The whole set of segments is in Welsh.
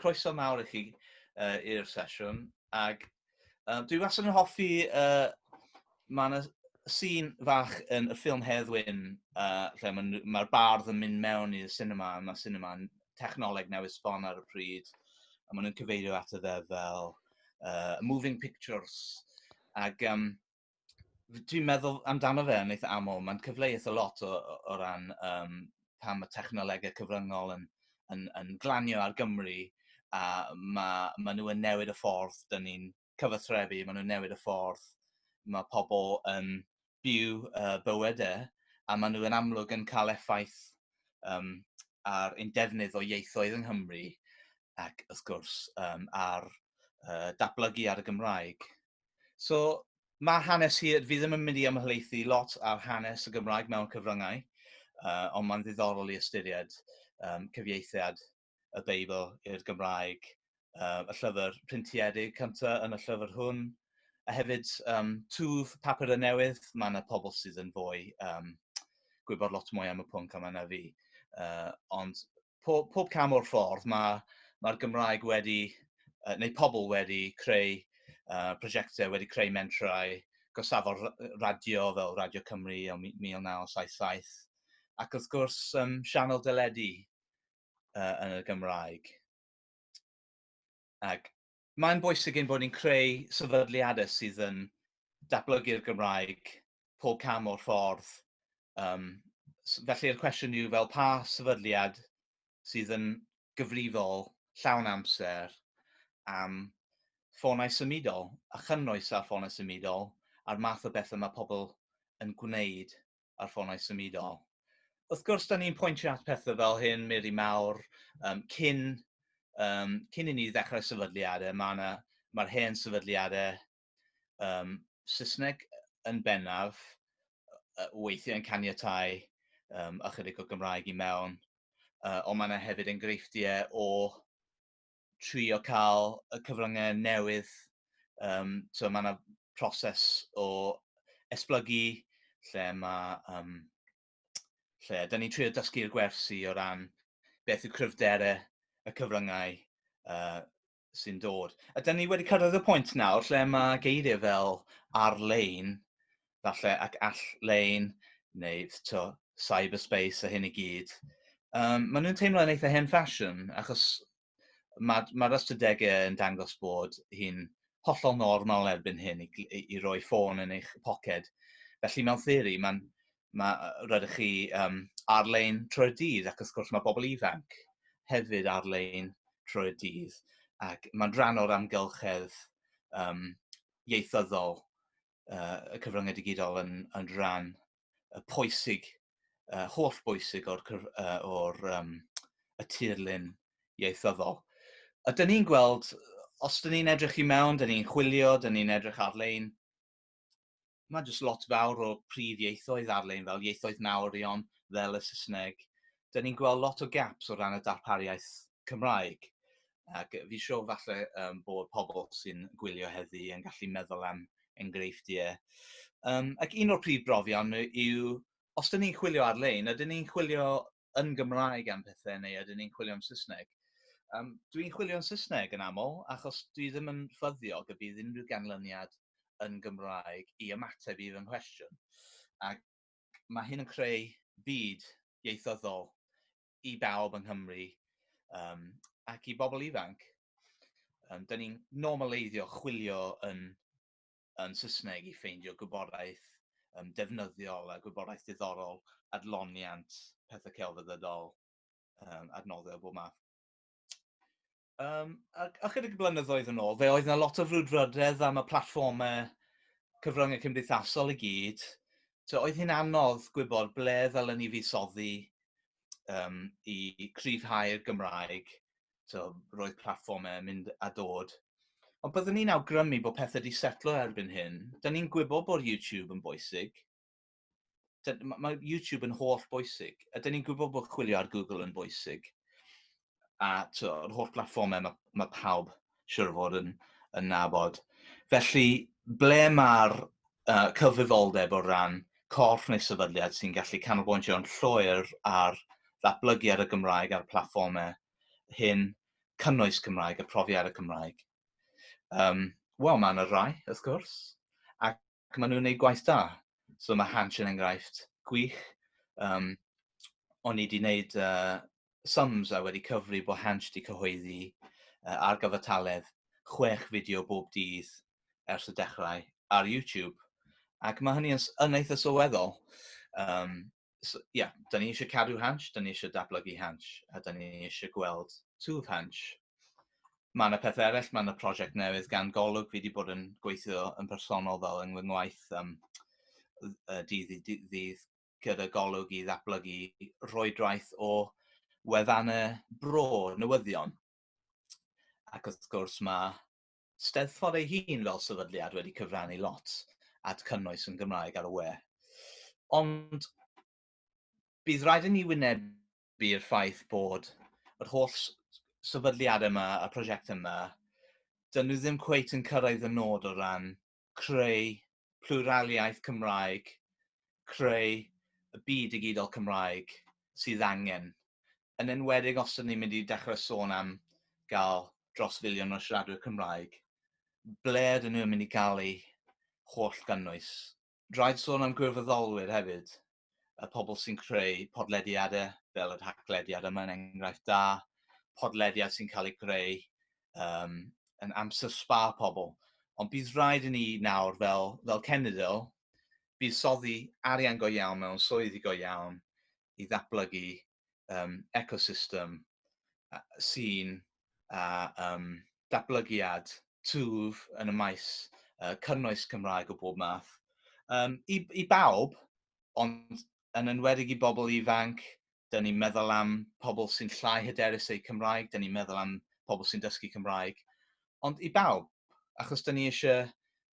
Croeso mawr i chi uh, i'r sesiwn. Ac um, dwi wastad yn hoffi, uh, mae yna sîn fach yn y ffilm Heddwyn, uh, lle mae'r ma bardd yn mynd mewn i'r cinema, a mae cinema'n technoleg newydd sbon ar y pryd, a maen nhw'n cyfeirio at y ddeddf fel uh, moving pictures. Ac um, dwi'n meddwl amdano fe yn eitha aml. Mae'n cyfleus a lot o, o ran um, pan mae technolegau cyfryngol yn, yn, yn glanio ar Gymru a mae, mae nhw yn newid y ffordd dyn ni'n cyfathrebu, mae nhw'n newid y ffordd mae pobl yn byw uh, bywydau e, a mae nhw yn amlwg yn cael effaith um, ar ein defnydd o ieithoedd yng Nghymru ac wrth gwrs um, ar uh, datblygu ar y Gymraeg. So, mae hanes hi, fi ddim yn mynd i ymhelaethu lot ar hanes y Gymraeg mewn cyfryngau, uh, ond mae'n ddiddorol i ystyried um, cyfieithiad y Beibl i'r Gymraeg, uh, y llyfr printiedig cyntaf yn y llyfr hwn, a hefyd um, twf papur y newydd, mae yna pobl sydd yn fwy um, gwybod lot mwy am y pwnc yma na fi. Uh, ond pob, pob cam o'r ffordd mae'r ma Gymraeg wedi, uh, neu pobl wedi creu uh, prosiectau, wedi creu mentrau, gosafo'r radio fel Radio Cymru o 1977, ac wrth gwrs um, sianel deledu uh, yn y Gymraeg. Ac mae'n bwysig ein bod ni'n creu sefydliadau sydd yn datblygu'r Gymraeg pob cam o'r ffordd. Um, felly'r cwestiwn yw fel pa sefydliad sydd yn gyfrifol llawn amser am ffonau symudol a chynnwys ar ffonau symudol a'r math o bethau mae pobl yn gwneud a'r ffonau symudol. Wrth gwrs, da ni'n pwyntio at pethau fel hyn, Mary Mawr, um, cyn, um, cyn i ni ddechrau sefydliadau, mae'r ma, ma hen sefydliadau um, Saesneg yn bennaf, uh, weithiau yn caniatau um, ychydig o Gymraeg i mewn, uh, ond mae yna hefyd enghreifftiau o trio cael y cyfryngau newydd. Um, so mae yna proses o esblygu lle mae... Um, lle, da ni'n trio dysgu'r gwersi o ran beth yw cryfderau y cyfryngau uh, sy'n dod. A da ni wedi cyrraedd y pwynt nawr lle mae geiriau fel ar-lein falle ac all-lein neu to cyberspace a hyn i gyd. Um, maen nhw'n teimlo'n eitha hen ffasiwn, achos mae'r ma, ma ystadegau yn dangos bod hi'n hollol normal erbyn hyn i, i, i roi ffôn yn eich poced. Felly mewn theori, mae'n ma, rydych chi um, ar-lein trwy'r dydd, ac wrth gwrs mae bobl ifanc hefyd ar-lein trwy'r dydd, ac mae'n rhan o'r amgylchedd um, ieithyddol uh, y cyfryngau digidol yn, yn rhan y pwysig, uh, holl bwysig o'r, uh, or, um, y tirlun ieithyddol. A dyn ni'n gweld, os dyn ni'n edrych i mewn, dyn ni'n chwilio, dyn ni'n edrych ar-lein, mae jyst lot fawr o prif ieithoedd ar-lein fel ieithoedd mawrion, fel y Saesneg. Dyn ni'n gweld lot o gaps o ran y darpariaeth Cymraeg. Ac yy fi siŵr falle yym bod pobl sy'n gwylio heddi yn gallu meddwl am enghreifftiau. Um, ac un o'r prif brofion yw, os dyn ni'n chwilio ar-lein, ydyn ni'n chwilio yn Gymraeg am pethau neu ydyn ni'n chwilio am Saesneg? Um, dwi'n chwilio yn Saesneg yn aml, achos dwi ddim yn ffyddiog y bydd unrhyw ganlyniad yn Gymraeg i ymateb i fy nghwestiwn. Ac mae hyn yn creu byd ieithyddol i bawb yng Nghymru um, ac i bobl ifanc. Um, Dyna ni'n normaleiddio chwilio yn, yn Saesneg i ffeindio gwybodaeth um, defnyddiol a gwybodaeth diddorol, adloniant, pethau celfyddydol, um, adnoddau o bob math. Um, a, a chydig blynyddoedd yn ôl, fe oedd yna lot o frwdfrydedd am y platfformau cyfryngau cymdeithasol i gyd. So, oedd hi'n anodd gwybod ble ddylen ni fuddsoddi um, i cryfhau'r Gymraeg. So, roedd platfformau mynd a dod. Ond byddwn ni'n awgrymu bod pethau wedi setlo erbyn hyn. Dyna ni'n gwybod bod YouTube yn bwysig. mae YouTube yn holl bwysig, a dyn ni'n gwybod bod chwilio ar Google yn bwysig. A yr holl blatfformau mae, mae pawb siwr o fod yn, yn nabod. Felly, ble mae'r uh, cyfrifoldeb o ran corff neu sefydliad sy'n gallu canolbwyntio'n llwyr ar ddatblygiad y Gymraeg a'r platfformau hyn, cynnwys Cymraeg a profiad y Cymraeg. Um, Wel, mae yna rai, wrth gwrs, ac ac maen nhw'n gwneud gwaith da. So mae Hansh yn enghraifft gwych. Um, o'n i wedi gwneud uh, sums a wedi cyfri bod Hansh wedi cyhoeddi uh, ar gyfartaledd chwech fideo bob dydd ers y dechrau ar YouTube. Ac mae hynny yn, yn eitha sylweddol. Um, so, yeah, da ni eisiau cadw hansh, da ni eisiau dablygu hansh, a da ni eisiau gweld twf hansh. Mae yna pethau eraill, mae yna prosiect newydd gan golwg, fi wedi bod yn gweithio yn personol fel yng ngwaith um, dydd i ddydd gyda golwg i ddatblygu rhoedraeth o wefannau bro newyddion. Ac wrth gwrs mae Steddfod ei hun fel sefydliad wedi cyfrannu lot at cynnwys yn Gymraeg ar y we. Ond bydd rhaid i ni wynebu'r ffaith bod yr holl sefydliad yma, y prosiect yma, dyn nhw ddim cweit yn cyrraedd y nod o ran creu plwraliaeth Cymraeg, creu y byd digidol Cymraeg sydd angen, yn enwedig os ydyn ni'n mynd i dechrau sôn am gael dros filiwn o siaradwyr Cymraeg, ble ydyn nhw'n mynd i gael eu holl gynnwys? Rhaid sôn am gwirfoddolwyr hefyd. y pobl sy'n creu podlediadau, fel y rhaglediad yma yn enghraifft da, podlediad sy'n cael ei greu um, yn amser spa pobl. Ond bydd rhaid i ni nawr fel, fel cenedl buddsoddi arian go iawn mewn swyddi go iawn i ddatblygu um, ecosystem uh, sy'n uh, um, datblygiad twf yn y maes uh, cynnwys Cymraeg o bob math. Um, i, I bawb, ond yn enwedig i bobl ifanc, dyn ni'n meddwl am pobl sy'n llai hyderus eu Cymraeg, dyn ni'n meddwl am pobl sy'n dysgu Cymraeg, ond i bawb, achos dyn ni eisiau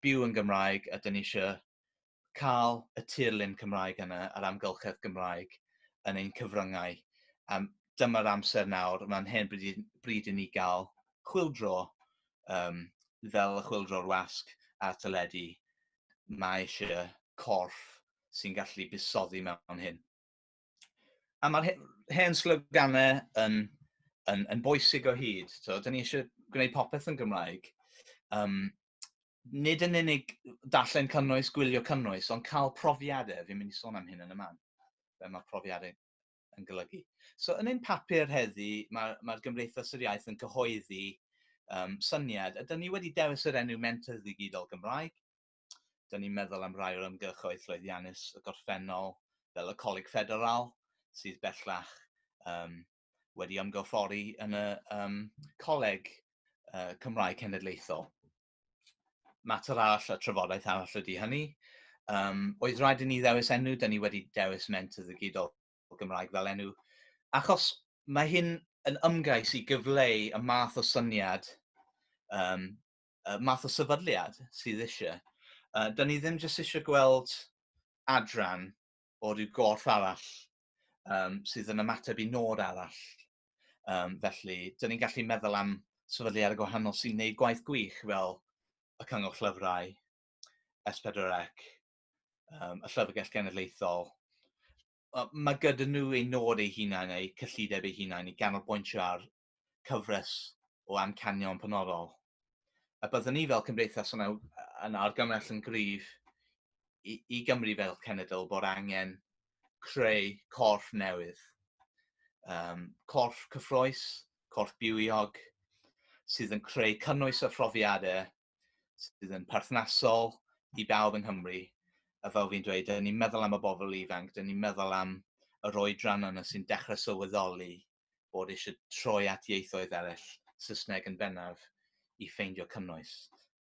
byw yn Gymraeg a dyn ni eisiau cael y tirlun Cymraeg yna, yr amgylchedd Gymraeg yn ein cyfryngau. Um, dyma'r amser nawr, mae'n hen bryd, bryd i ni gael chwildro um, fel y chwildro'r wasg a teledu. Mae eisiau corff sy'n gallu busoddi mewn hyn. a mae'r hen sloganau yn, yn, yn bwysig o hyd. So, da ni eisiau gwneud popeth yn Gymraeg. Um, nid yn unig darllen cynnwys, gwylio cynnwys, ond cael profiadau. Fi'n mynd i sôn am hyn yn y man. Fe mae profiadau yn golygu. So, yn ein papur heddi, mae'r mae Gymdeithas yr Iaith yn cyhoeddi um, syniad. Ydyn ni wedi dewis yr enw Mentor Ddigidol Gymraeg. dyn ni'n meddwl am rai o'r ymgyrchoedd llwyddiannus y gorffennol, fel y Coleg Ffederal, sydd bellach um, wedi ymgorffori yn y um, Coleg uh, Cymraeg Cenedlaethol. Mater arall a trafodaeth arall ydy hynny. Um, oedd rhaid i ni ddewis enw, dyn ni wedi dewis ment y ddigidol Gymraeg fel enw, achos mae hyn yn ymgais i gyfleu y math o syniad um, uh, math o sefydliad sydd eisiau. Uh, da ni ddim jyst eisiau gweld adran o ryw gorff arall um, sydd yn ymateb i nod arall. Um, felly, da ni'n gallu meddwl am sefydliad y gwahanol sy'n gwneud gwaith gwych fel y Cyngor Llyfrau, S4C, um, y Llyfrgell Genedlaethol. Mae gyda nhw ei nod ei hunain, ei cyllideb ei hunain, i ganolbwyntio ar cyfres o amcanion penodol. A byddwn ni fel cymdeithas yn, yn argymell yn gryf i, i Gymru fel cenedl bod angen creu corff newydd. Um, corff cyffroes, corff bywiog, sydd yn creu cynnwys a phrofiadau sydd yn perthnasol i bawb yng Nghymru. A fel fi'n dweud, dyn ni'n meddwl am y bobl ifanc, dyn ni'n meddwl am yr oedran yna sy'n dechrau sylweddoli bod eisiau troi at ieithoedd eraill, Saesneg yn bennaf, i ffeindio cynnwys.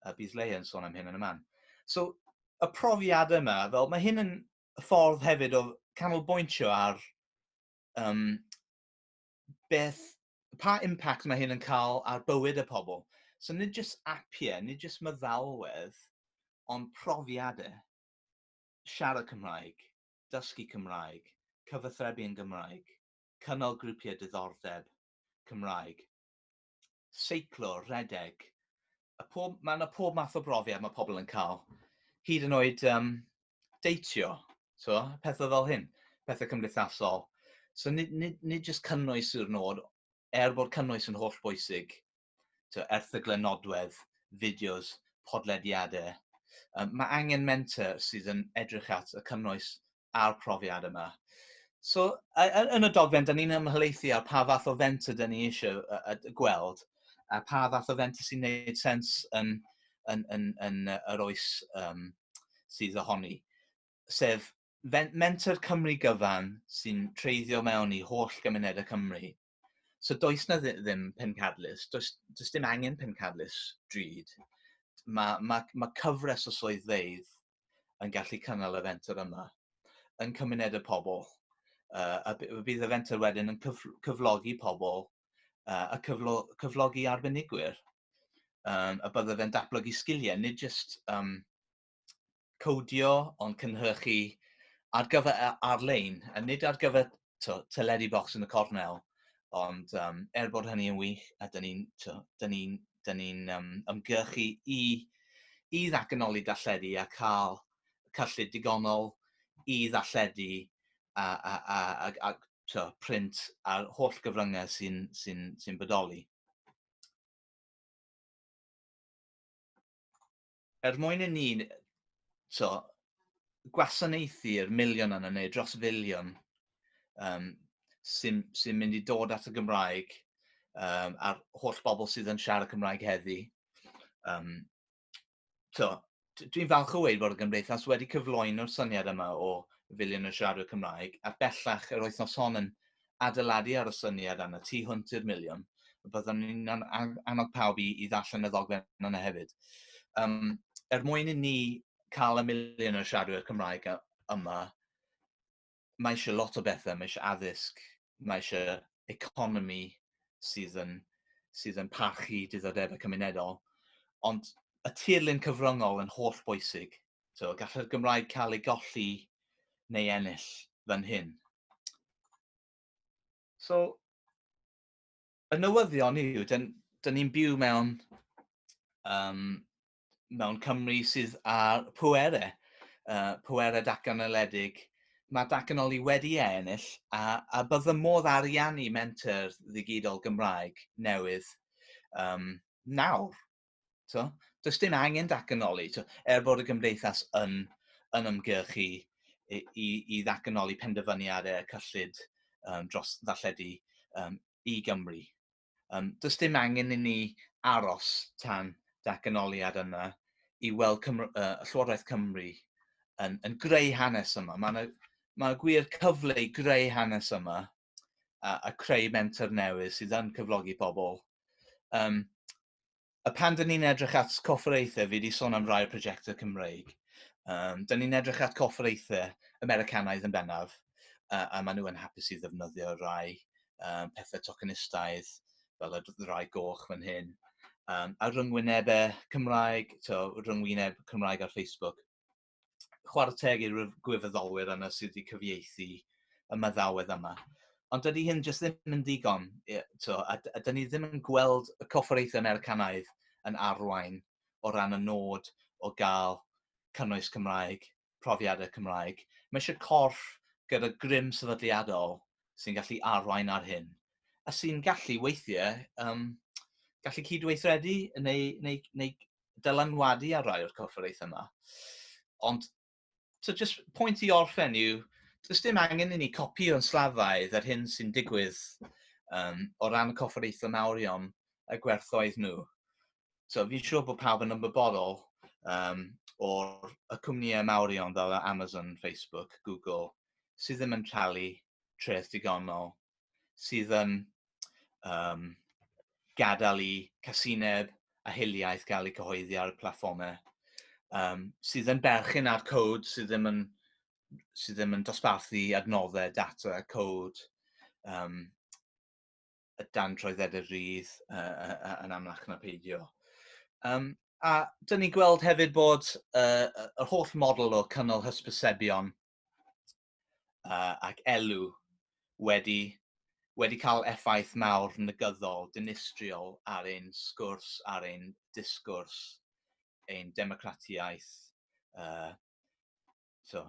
A bydd Leia yn sôn am hyn yn y man. So, y profiad yma, fel mae hyn yn ffordd hefyd o canolbwyntio ar um, beth, pa impact mae hyn yn cael ar bywyd y pobl. So nid jyst apiau, nid jyst meddalwedd, ond profiadau. Siarad Cymraeg, dysgu Cymraeg, cyfathrebu yn Gymraeg. cynnal grwpiau diddordeb Cymraeg, seiclo, rhedeg, a pob, mae yna pob math o brofiad mae pobl yn cael, hyd yn oed um, deitio, so, pethau fel hyn, pethau cymdeithasol. So nid, nid, nid jyst cynnwys yw'r nod, er bod cynnwys yn holl bwysig, tibod, erthyglau nodwedd, fideos, podlediadau. Um, mae angen mentor sydd yn edrych at y cynnwys a'r profiad yma. So, yn y dogfen, da ni'n ymhelaethu ar pa fath o fenter da ni eisiau gweld a pa fath o fenter sy'n gwneud sens yn, yn, yn, yn, yn yr oes um, sydd ohoni. Sef menter Cymru gyfan sy'n treiddio mewn i holl gymunedau Cymru So does na ddim pencadlys, does, does dim angen pencadlys drud. Mae, mae, mae cyfres o swyddfeydd yn gallu cynnal y fenter yma yn cymuned y pobl. Uh, a bydd y fenter wedyn yn cyf cyflogi pobl uh, a cyflo cyflogi arbenigwyr. Um, a bydde fe'n datblygu sgiliau, nid jyst um, codio ond cynhyrchu ar gyfer ar-lein, a nid ar gyfer to, teledu box yn y cornel, ond um, er bod hynny yn wych, a dyn ni'n ni, ni, ni um, ymgyrchu i, i ddatganoli darlledu a cael cyllid digonol i ddarlledu a, a, a, a, a to, print a'r holl gyfryngau sy'n sy sy bodoli. Er mwyn i ni, so, gwasanaethu'r miliwn yna, neu dros filiwn, um, sy'n sy mynd i dod at y Gymraeg, um, a'r holl bobl sydd yn siarad Cymraeg heddi. Um, so, dwi'n falch o weid bod y Gymdeithas wedi cyflwyno'r syniad yma o filiwn o siaradwyr Cymraeg, a bellach yr wythnos hon yn, adeiladu ar y syniad am y tu hwnt i'r miliwn, byddwn ni'n annog pawb i, i ddarllen y ddogfen yna hefyd. Um, er mwyn i ni cael y miliwn o siaradwyr Cymraeg yma, mae eisiau lot o bethau, mae eisiau addysg, mae eisiau economi sydd yn, sydd yn parchu diddordebau cymunedol, ond y tirlun cyfryngol yn holl bwysig So, gallai'r Gymraeg cael ei golli neu ennill fan hyn. So, y newyddion yw, dyn, dyn ni'n byw mewn, um, mewn Cymru sydd ar pwere, uh, pwere datganoledig. Mae datganoli wedi ei ennill a, a bydd y modd ariannu menter ddigidol Gymraeg newydd um, nawr. So, does dim angen datganoli, so, er bod y gymdeithas yn, yn ymgyrch i, i, i ddatganoli penderfyniad y cyllid um, dros ddarlledu um, i Gymru. Um, does dim angen i ni aros tan datganoliad yna i weld Cymru, uh, Llywodraeth Cymru yn, yn greu hanes yma. Mae yna mae gwir cyfle i greu hanes yma a, a creu mentor newydd sydd yn cyflogi pobl. Um, a pan dyn ni'n edrych at corfforaethau, fi wedi sôn am rai'r prosiectau Cymreig, um, dyn ni'n edrych at corfforaethau Americanaidd yn bennaf, a, a maen nhw yn hapus i ddefnyddio rai um, pethau tokenistaidd, fel y rai goch fan hyn, um, a rhyngwynebau Cymraeg, to, rhyngwyneb Cymraeg ar Facebook. chwarae teg i'r gwirfoddolwyr yna sydd wedi cyfieithu y maddawedd yma. Ond dydy hyn jyst ddim yn ddigon, to, a, a dydy ni ddim yn gweld y corfforaethau Americanaidd yn arwain o ran y nod o gael cynnwys Cymraeg, profiadau Cymraeg. Mae eisiau corff gyda grym sefydliadol sy'n gallu arwain ar hyn, a sy'n gallu weithiau um, gallu cydweithredu neu, neu, neu dylanwadu ar rai o'r corfforaethau yma. Ond, so just pwynt i orffen yw, does dim angen i ni copio'n slafaidd yr hyn sy'n digwydd um, o ran y corfforaethau mawrion y gwerthoedd nhw. So, fi'n siŵr bod pawb yn ymwybodol um, o'r y cwmnïau mawrion fel Amazon, Facebook, Google, sydd ddim yn talu treth digonol sydd yn um, gadael i casineb a hiliaeth gael eu cyhoeddi ar y platfformau um, sydd yn berchen ar cod sydd ddim yn, sydd ddim yn dosbarthu adnoddau, data, cod, um, y dan troedded y rydd uh, yn amlach na peidio. Um, a dyn ni'n gweld hefyd bod uh, yr holl model o cynnal hysbysebion uh, ac elw wedi, wedi cael effaith mawr negyddol, dinistriol ar ein sgwrs, ar ein disgwrs, ein democratiaeth, uh, so,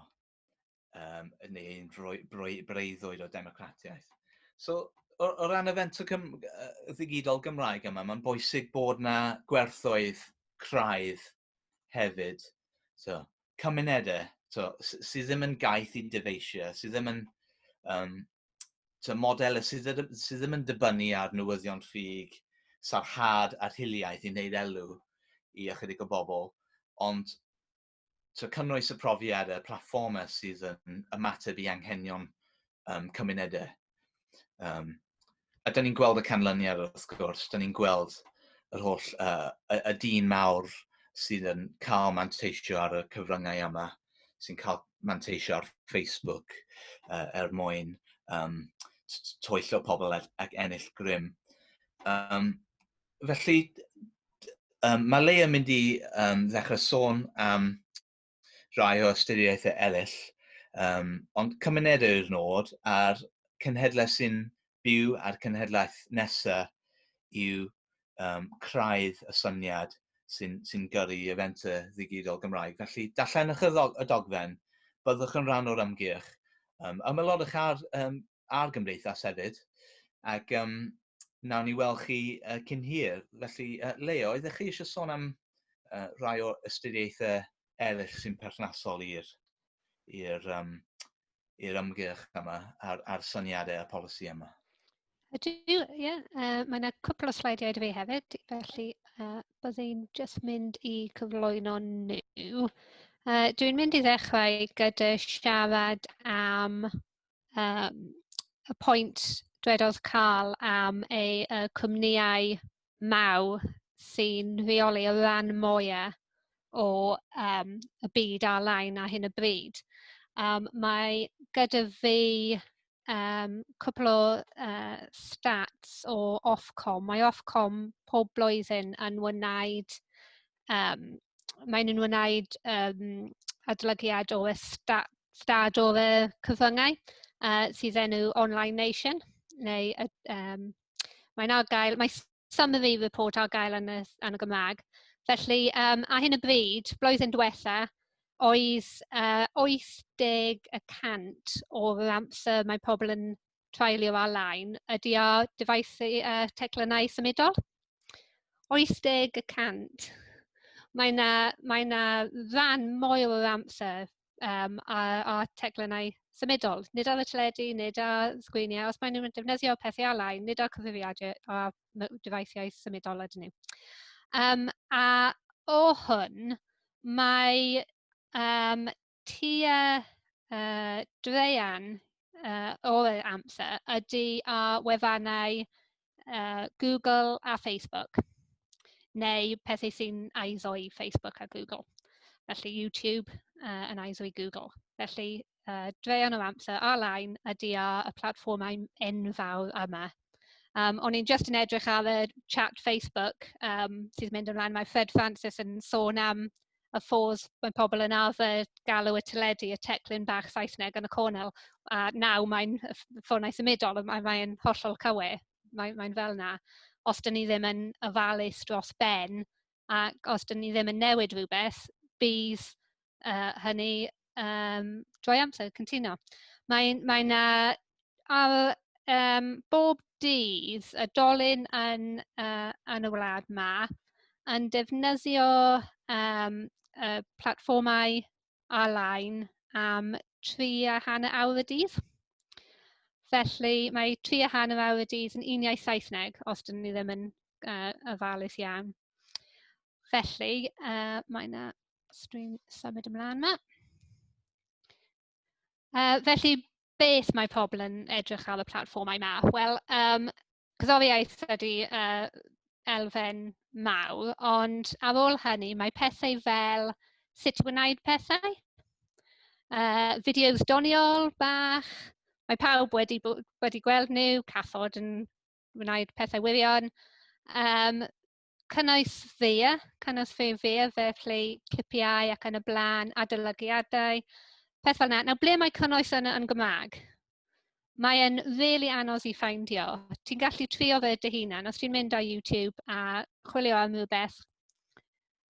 um, neu ein breuddwyd o democratiaeth. So, o, o ran y fento cym, uh, ddigidol Gymraeg yma, mae'n bwysig bod na gwerthoedd craidd hefyd, so, cymunedau so, sydd ddim yn gaeth i dyfeisio, sydd ddim yn um, so, model sydd, sydd ddim yn dibynnu ar newyddion ffug, sarhad a'r hiliaeth i wneud elw i ychydig o bobl, ond so, cynnwys y profiad y platformau sydd yn ymateb i anghenion um, cymunedau. Um, a da ni'n gweld y canlyniad wrth gwrs, da ni'n gweld yr holl uh, y, y dyn mawr sydd yn cael manteisio ar y cyfryngau yma, sy'n cael manteisio ar Facebook uh, er mwyn um, toello pobl ac ennill grym. Um, felly, um, mae Leia mynd i um, ddechrau sôn am rhai o ystyriaethau eraill, um, ond cymuned yw'r nod a'r cenhedlau sy'n byw a'r cenhedlaeth nesaf yw um, craidd y syniad sy'n sy gyrru i y ddigidol Gymraeg. Felly, darllenwch y, ddog, y dogfen, byddwch yn rhan o'r ymgyrch. Um, ymelodwch ar um, a'r gymdeithas hefyd. Ac um, nawn ni weld chi uh, cyn hir. Felly, uh, Leo, ydych chi eisiau sôn am uh, rai o ystudiaethau eraill sy'n perthnasol i'r i'r um, i'r ymgyrch yma a'r, ar syniadau a polisi yma. Ydw, ie. Yeah. Uh, mae yna cwpl o sleidiau dwi hefyd, felly uh, byddai'n just mynd i cyflwyno nhw. Uh, dwi'n mynd i ddechrau gyda siarad am um, y pwynt dwedodd Carl am ei uh, cwmnïau maw sy'n rheoli y rhan mwyaf o um, y byd ar-lein ar hyn y bryd. Um, mae gyda fi um, cwpl o uh, stats o Ofcom. Mae Ofcom pob blwyddyn yn wneud Yym maen nhw'n wneud yym adolygiad o y sta- stad o y cyfryngau yy sydd enw Online Nation neu yy yym mae'n ar gael... mae summary report ar gael yn y s- yn y Gymraeg. Felly yym ar hyn o bryd, blwyddyn diwetha, oedd yy wyth deg y cant o'r amser mae pobl yn... treulio ar-lein ydy ar dyfais yy teclynnau symudol. 80 y cant. Mae yna mae yna ran mwy o'r amser um, ar, ar teclynnau symudol. Nid ar y teledu, nid ar sgriniau. Os maen nhw'n defnyddio pethau alai, nid ar cyfrifiadur a dyfeisiau symudol ydyn nhw. Um, a o hwn, mae um, tua yy draean yy o'r amser ydy â wefannau yy Google a Facebook neu pethau sy'n ISO i Facebook a Google, felly YouTube yy yn ISO i Google. Felly yy draean o amser ar-lein ydy â y platfformau enfawr yma. Yym o'n i'n jyst yn edrych ar y chat Facebook yym sydd yn mynd ymlaen, mae Fred Francis yn sôn am y ffôs, mae pobl yn arfer galw y teledu y teclyn bach Saesneg yn y cornel, a nawr mae'n y ff- ffonau symudol, a mae e'n hollol cywir. Mae mae'n fel 'na. Os dan ni ddim yn ofalus dros ben, ac os dan ni ddim yn newid rhywbeth, bydd yy hynny... um, drwy amser, cyntino. Mae, mae na ar um, bob dydd y dolyn yn, uh, yn y wlad ma yn defnyddio um, y platfformau ar-lein am tri a hanner awr y dydd. Felly mae tri a hanner awr y dydd yn uniau Saesneg, os dyn ni ddim yn uh, ofalus iawn. Felly, uh, mae yna Sbrin symud ymlaen yma. Uh, felly, beth mae pobl yn edrych ar y platfformau yma? Wel, um, cyddofiaeth ydy uh, elfen mawr, ond ar ôl hynny mae pethau fel sut i wneud pethau, uh, fideos doniol bach, mae pawb wedi, wedi gweld nhw, cathod yn wneud pethau wirion, um, cynnwys ddeia, cynnwys fe ddeia, felly clipiau ac yn y blaen, adolygiadau, peth fel yna. Nawr, ble mae cynnwys yn, yn Gymraeg? Mae e'n really anodd i ffeindio. Ti'n gallu trio fe dy hunan. Os ti'n mynd ar YouTube a chwilio am rhywbeth,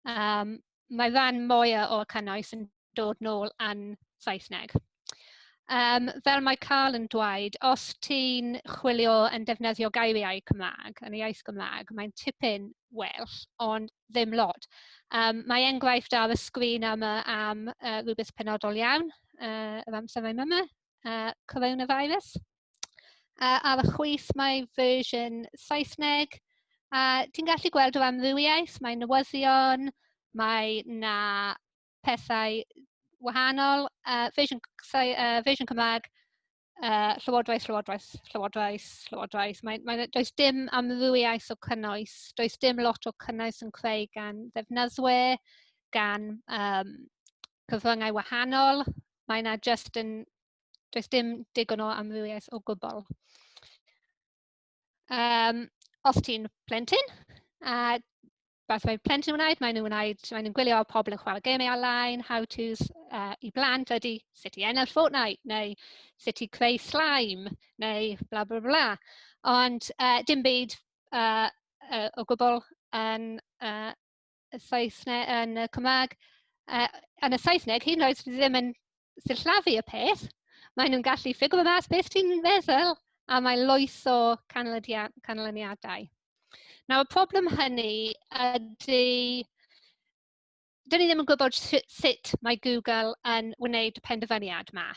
um, mae fan mwy o'r cynnwys yn dod nôl yn Saesneg. Um, fel mae Carl yn dweud, os ti'n chwilio yn defnyddio geiriau Cymraeg, yn y iaith Gymraeg, mae'n tipyn well, ond ddim lot. Um, mae enghraifft ar y sgrin yma am uh, rhywbeth penodol iawn, uh, yr amser mae'n yma, uh, coronavirus. Uh, ar y chwith mae version Saesneg. A uh, ti'n gallu gweld o amrywiaeth, mae newyddion, mae na pethau wahanol, uh, version, uh, version Cymraeg, uh, llywodraeth, llywodraeth, llywodraeth, llywodraeth. Mae, mae, does dim amrywiaeth o cynnwys, does dim lot o cynnwys yn creu gan ddefnyddwyr, gan um, cyfryngau wahanol. Mae yna just yn Does dim digon o amrywiaeth o gwbl. Um, os ti'n plentyn, a beth mae plentyn yn wneud, maen nhw'n wneud, maen nhw'n gwylio pobl yn chwarae gemau ar-lein, how-tos uh, i blant ydy sut i ennill Fortnite, neu sut i creu slime, neu bla bla bla. Ond uh, dim byd uh, uh, o gwbl yn uh, y Saesneg, yn y Cymraeg, uh, yn y Saesneg, hyn oed ddim yn sillafu y peth, maen nhw'n gallu ffigro mas beth ti'n feddwl a mae loes o canlyniadau. Nawr, y problem hynny ydy dyn ni ddim yn gwybod sut mae Google yn wneud y penderfyniad yma.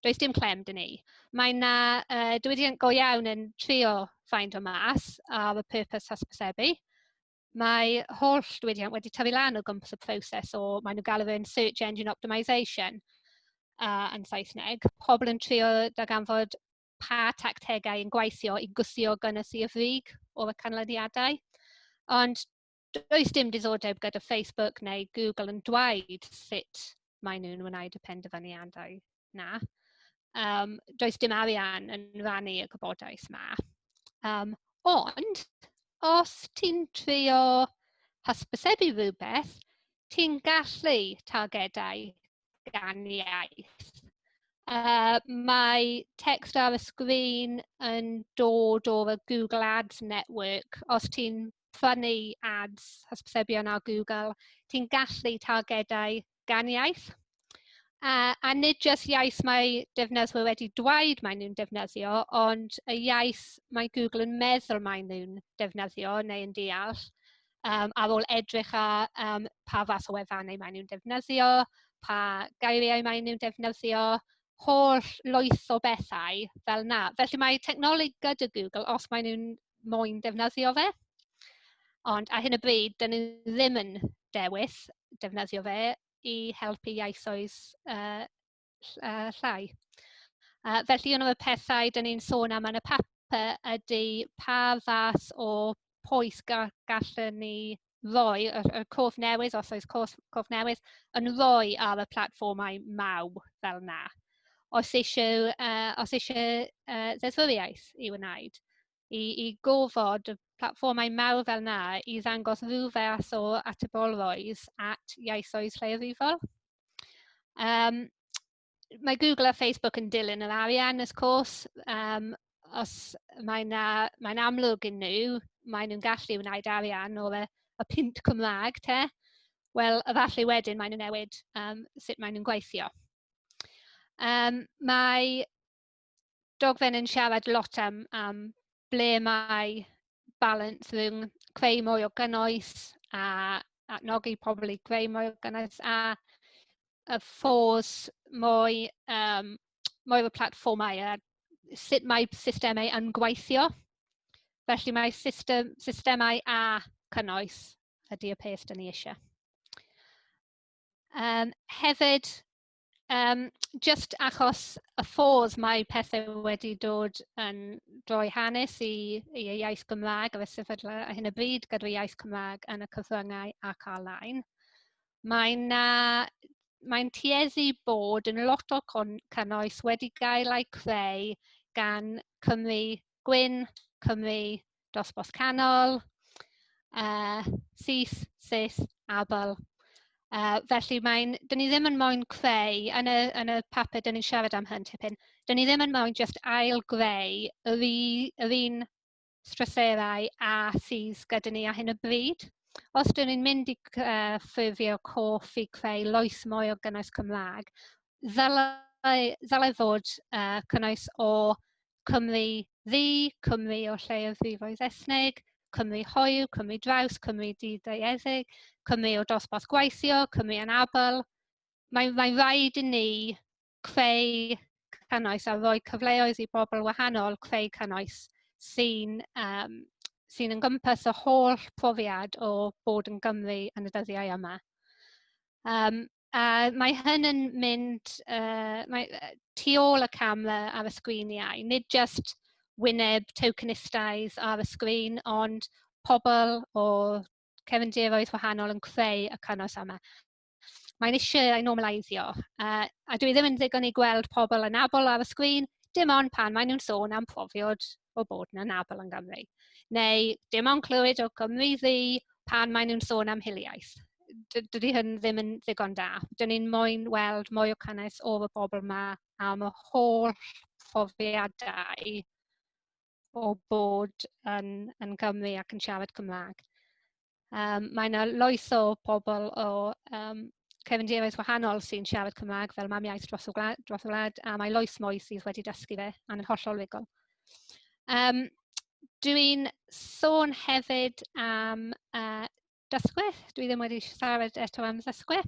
Does dim clem dyn ni. Mae yna uh, diwydiant go iawn yn trio ffaindio mas ar y purpose hysbysebu, Mae holl diwydiant wedi tyfu lan o gwmpas y proses o, maen nhw'n galw fe'n search engine optimisation uh, yn Saesneg. Pobl yn trio darganfod pa tactegau yn gweithio i gwthio gynnes i'r frig o'r canlyniadau. Ond does dim diddordeb gyda Facebook neu Google yn dweud sut maen nhw'n wneud y penderfyniadau. 'na. Um, does dim arian yn rannu y gwybodaeth 'ma. Um, ond, os ti'n trio hysbysebu rhywbeth, ti'n gallu targedau gan iaith. Uh, mae text ar y sgrin yn dod o'r Google Ads Network. Os ti'n prynu ads hysbysebion ar Google, ti'n gallu targedau gan iaith. A, a nid jyst iaith mae defnyddwyr wedi dweud maen nhw'n defnyddio, ond y iaith mae Google yn meddwl maen nhw'n defnyddio neu yn deall, um, ar ôl edrych ar um, pa fath o wefannau maen nhw'n defnyddio, pa geiriau maen nhw'n defnyddio, holl lwyth o bethau fel yna. Felly mae technoleg gyda Google, os maen nhw'n moyn defnyddio fe. Ond ar hyn o bryd, dan ni ddim yn dewis defnyddio fe i helpu ieithoedd uh, llai. Uh, felly, un o'r pethau dan ni'n sôn am yn y papur ydy pa fath o pwys gallwn ni ddoe, y y cof newydd, os oes cof cof newydd, yn ddoe ar y platfformau maw fel 'na. Os eisiau yy os eisiau yy ddeddfwriaeth i'w wneud i i gofod y platfformau mawr fel 'na i ddangos ryw fath o atebolrwydd at ieithoedd lleiafrifol yym. mae Google a Facebook yn dilyn yr arian wrth cwrs, yym os mae 'na... mae'n amlwg iddyn nhw, maen nhw'n gallu wneud arian o y y punt Cymraeg te, wel efallai wedyn maen nhw'n newid yym sut maen nhw'n gweithio. Yym mae... dogfen yn siarad lot am, am ble mae balans rhwng creu mwy o gynnwys a adnogi pobl i greu mwy o gynnwys a y ffôs mwy, um, mwy o platfformau a sut mae systemau yn gweithio. Felly mae system, systemau a cynnwys ydy y peth dyn ni eisiau. Um, hefyd, Yym jyst achos y ffordd mae pethe wedi dod yn rhoi hanes i i y iaith Gymraeg ar y sefyllfa ar hyn o bryd gyda'r iaith Cymraeg yn y cyfryngau ac ar-lein, mae 'na... mae'n tueddu bod yn lot o con- cynnwys wedi gael eu creu gan Cymry gwyn, Cymry dosbarth canol, uh, syth, syth, abal. Uh, felly mae'n, dyn ni ddim yn moyn creu, yn y, yn y papur dyn ni'n siarad am hyn tipyn, dyn ni ddim yn moyn just ail greu yr, yr un stryserau a sydd gyda ni ar hyn o bryd. Os dyn ni'n mynd i uh, ffurfio coff i creu loes mwy o gynnwys Cymraeg, ddylai, ddylai fod uh, cynnwys o Cymru ddu, Cymru o lleiafrifoedd ethnig, Cymru hoyw, Cymru draws, Cymru di-daearyddeg, Cymru o dosbarth gweithio, Cymru anabl. Mae'n mae rhaid i ni creu cynnwys a rhoi cyfleoedd i bobl wahanol creu cynnwys sy'n um, sy'n yn gympus y holl profiad o bod yn Gymru yn y dyddiau yma. Um, A mae hyn yn mynd yy mae yy tu ôl y cam yy ar y sgrin iau, nid jyst wyneb tokenistaidd ar y sgrin, ond pobl o cefndiroedd wahanol yn creu y cynnwys yma. Mae'n isie ei normaleiddio, yy a dyw e ddim yn ddigon i gweld pobl anabl ar y sgrin, dim ond pan maen nhw'n sôn am profiad o bod yn anabl yn Gymru, neu dim ond clywed o Gymru Ddu pan maen nhw'n sôn am hiliaeth. D- dydy hyn ddim yn ddigon da. Dan ni'n moyn weld mwy o caniaeth o y bobl 'ma am y holl phrofiadau o bod yn yn Gymru ac yn siarad Cymraeg. Um, mae yna loes o bobl o um, cefndiroedd wahanol sy'n siarad Cymraeg fel mam iaith dros y wlad, dros y wlad a mae loes mwy sydd wedi dysgu fe a'n yn hollol rigol. Um, Dwi'n sôn hefyd am uh, dysgwyr. Dwi ddim wedi siarad eto am ddysgwyr.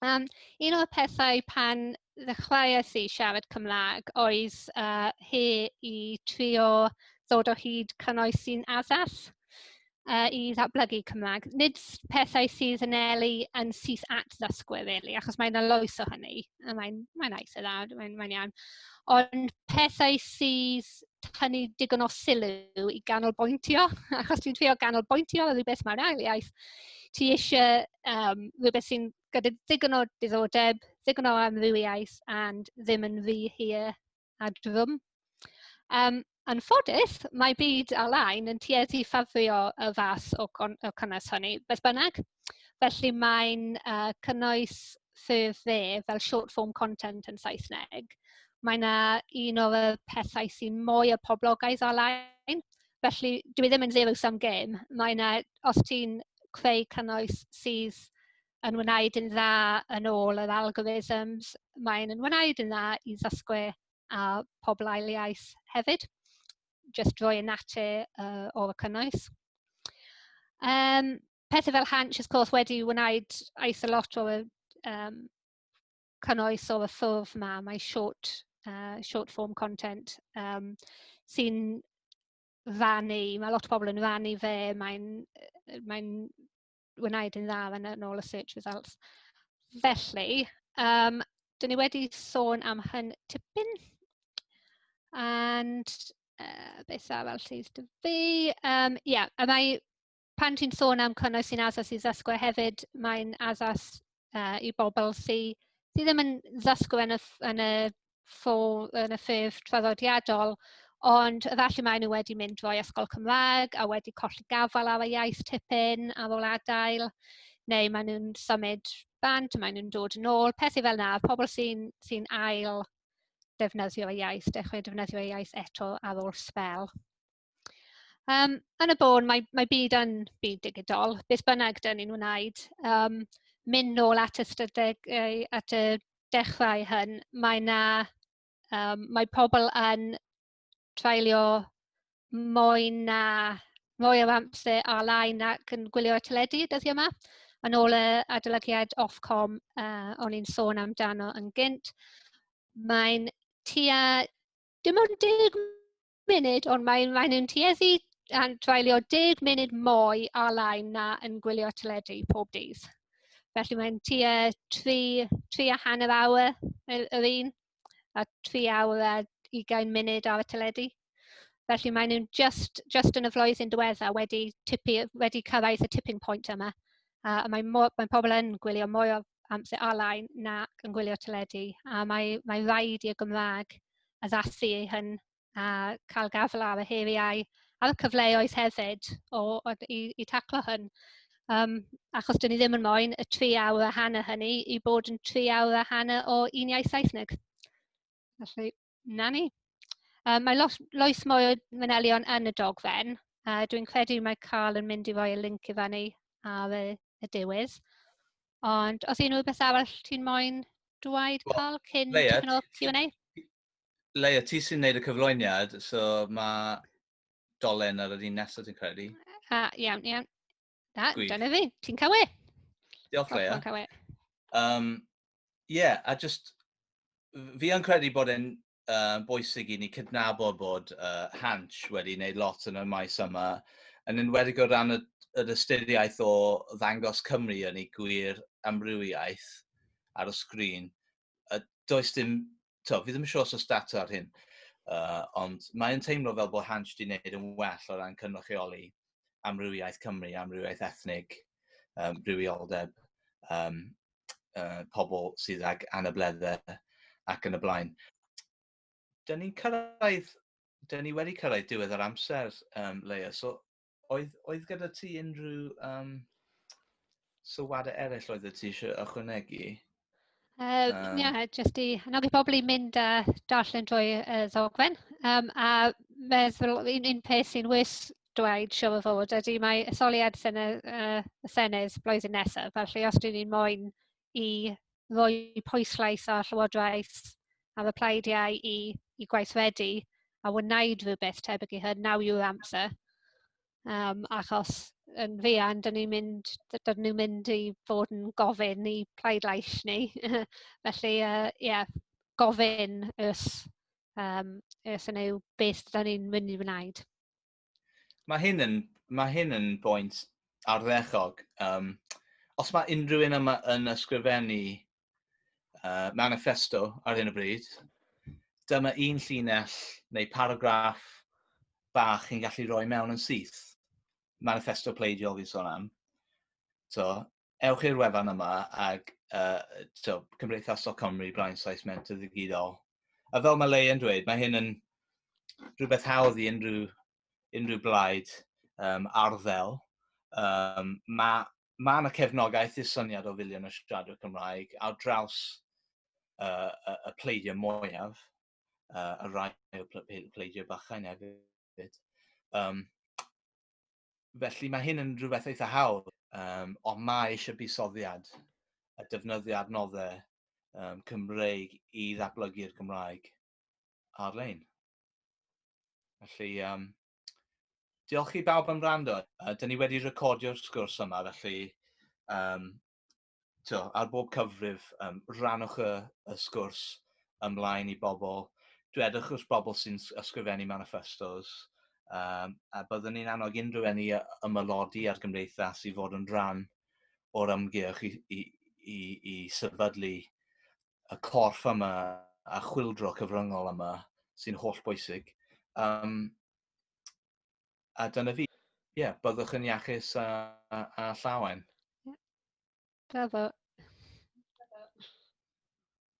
Yym un o'r pethau pan ddechreuais i siarad Cymraeg oedd yy hi i trio ddod o hyd cynnwys sy'n addas yy i ddatblygu Cymraeg. Nid s- pethau sydd yn anelu yn syth at ddysgwyr rili achos mae 'na lwyth o hynny a mae'n mae'n eitha' dda mae'n mae'n iawn ond pethau sydd tynnu digon o sylw i ganolbwyntio, achos dwi'n trio ganolbwyntio ar rywbeth mae'r ail iaith. Ti eisiau um, rhywbeth sy'n gyda ddigon o diddordeb, ddigon o amrywiaeth, and ddim yn rhy hir a drwm. Um, yn ffodus, mae byd alain yn tueddu ffafrio y fath o, con o cynnwys hynny. Beth bynnag, Felly mae'n yy cynnwys ffurf dde fel short form content yn Saesneg. Mae 'na un o'r yy pethau sy'n mwy o poblogaidd ar-lein. Felly dyw e ddim yn zero sum game. Mae 'na... os ti'n creu cynnwys sydd yn wneud yn dda yn ôl yr algorithms mae'n yn wneud yn dda i ddysgwyr a pobl ail iaith hefyd jyst drwy y natur yy o'r cynnwys yym. pethe fel haintsh wrth gwrs wedi wneud eitha lot o yr yym cynnwys o y ffurf 'ma, mae short yy short form content yym sy'n rannu, ma' lot o bobl yn rannu fe, mae'n yy mae'n wneud yn dda yn yn ôl y search results. Felly yym 'dyn ni wedi sôn am hyn tipyn and yy beth arall sydd 'da fi yym ie a mae pan ti'n sôn am cynnwys sy'n addas i ddysgwyr hefyd, mae'n addas uh, i bobl sydd sy ddim yn ddysgwyr yn y, yn y, ffo, yn y ffurf traddodiadol, ond efallai maen nhw wedi mynd drwy ysgol Cymraeg a wedi colli gafael ar y iaith tipyn ar ôl adael, neu maen nhw'n symud bant, maen nhw'n dod yn ôl, pethau fel yna, pobl sy'n sy ail defnyddio y iaith, dechrau defnyddio y iaith eto ar ôl spel. Yym, yn y bôn, mae mae byd yn byd digidol, beth bynnag dan ni'n wneud, yym mynd nôl at y ystadegau at y dechrau hyn, mae 'na yym mae pobl yn treulio mwy na mwy o amser ar-lein ac yn gwylio teledu dyddiau 'ma, yn ôl y adolygiad Ofcom yy o'n i'n sôn amdano yn gynt. Mae'n tua dim ond deg munud, ond mae'n mae nhw'n tueddu a'n dwaelio 10 munud mwy ar lain na yn gwylio teledu pob dydd. Felly mae'n tua 3, 3 a hanner awr yr un, a 3 awr a 20 munud ar y teledu. Felly maen nhw'n just, just yn y flwyddyn diwetha wedi, tipu, wedi cyrraedd y tipping point yma. A mae, mae pobl yn gwylio mwy o amser ar-lein nac yn gwylio teledu a mae mae raid i'r Gymraeg addasu ei hun a cael gafael ar y heriau a'r cyfleoedd hefyd o o i i taclo hwn yym achos dan ni ddim yn moyn y tri awr a hanner hynny i bod yn tri awr a hanner o un iaith Saesneg felly. 'Na ni. Yym mae lot... loes mwy o manylion yn y dogfen. Yy dwi'n credu mai Carl yn mynd i roi y linc i fyny ar y y diwedd. Ond os unrhyw beth arall ti'n moyn dweud Wel, Carl cyn Leia, tipyn o Q&A? Leia, ti sy'n neud y cyflwyniad, so mae dolen ar yr un nesaf dwi'n credu. A, iawn, iawn. Na, Gwych. dyna fi. Ti'n cawe? Diolch, Lea. Ti'n cawe. Um, yeah, a just, fi yn credu bod e'n uh, bwysig i ni cydnabod bod uh, Hanch wedi wneud lot yn y maes yma, yn enwedig o ran y, yr ystyriaeth o ddangos Cymru yn ei gwir amrywiaeth ar y sgrin. a does dim, to, fi ddim yn siŵr os oes data ar hyn, uh, ond mae'n teimlo fel bod Hansh wedi gwneud yn well o ran cynrychioli amrywiaeth Cymru, amrywiaeth ethnig, um, rhywioldeb, um, uh, pobl sydd ag anableddau ac yn y blaen. Dyna ni'n cyrraedd, dyna ni wedi cyrraedd diwedd yr amser, um, Leia, so Oedd, oedd gyda ti unrhyw um, sylwadau eraill oedd ti eisiau ychwanegu? Uh, um, yeah, jyst i annog i bobl i mynd a darllen drwy uh, ddogfen. Um, a meddwl, un, un peth sy'n wys dweud siw o fod ydy mae etholiad sene, uh, Senedd blwyddyn nesaf. Felly os dyn ni'n moyn i roi pwyslais ar Llywodraeth ar y plaid iau i, i gweithredu a wneud rhywbeth tebyg i hyn, naw yw'r amser. Um, achos yn fuan, dyn ni'n mynd, dyn ni'n mynd i fod yn gofyn i plaidlais ni. Felly, ie, uh, yeah, gofyn ys, um, ys yn ei beth dyn ni'n mynd i wneud. Mae hyn yn, mae hyn yn bwynt arddechog. Um, os mae unrhyw un yma yn ysgrifennu uh, manifesto ar hyn o bryd, dyma un llinell neu paragraff bach chi'n gallu rhoi mewn yn syth. Manifesto pleidiol fi'n sôn am. So, ewch i'r wefan yma ac uh, so, Cymdeithasol Cymru, Brian Sais Mentor Ddigidol. A fel mae Leia'n dweud, mae hyn yn rhywbeth hawdd i unrhyw, unrhyw blaid um, arddel. Um, mae mae yna cefnogaeth i'r syniad o filiwn o siaradwyr Cymraeg ar draws uh, y, y pleidio mwyaf, uh, y rai o pleidio bachau neu hefyd. Um, felly mae hyn yn rhywbeth eitha hawdd, um, ond mae eisiau busoddiad a defnyddio adnoddau um, Cymreig i ddatblygu'r Gymraeg ar-lein. Felly, um, diolch i bawb am rando. Uh, Dyna ni wedi recordio'r sgwrs yma, felly um, to, ar bob cyfrif, um, rannwch y, y sgwrs ymlaen i bobl. Dwedwch wrth bobl sy'n ysgrifennu manifestos, um, a byddwn ni'n annog unrhyw enni ymylodi ar gymdeithas i fod yn rhan o'r ymgyrch i, i, i, i sefydlu y corff yma a chwildro cyfryngol yma sy'n holl bwysig. Um, a dyna fi. Ie, yeah, byddwch yn iachus a, a, a llawen. Ie. Yeah. Da fo.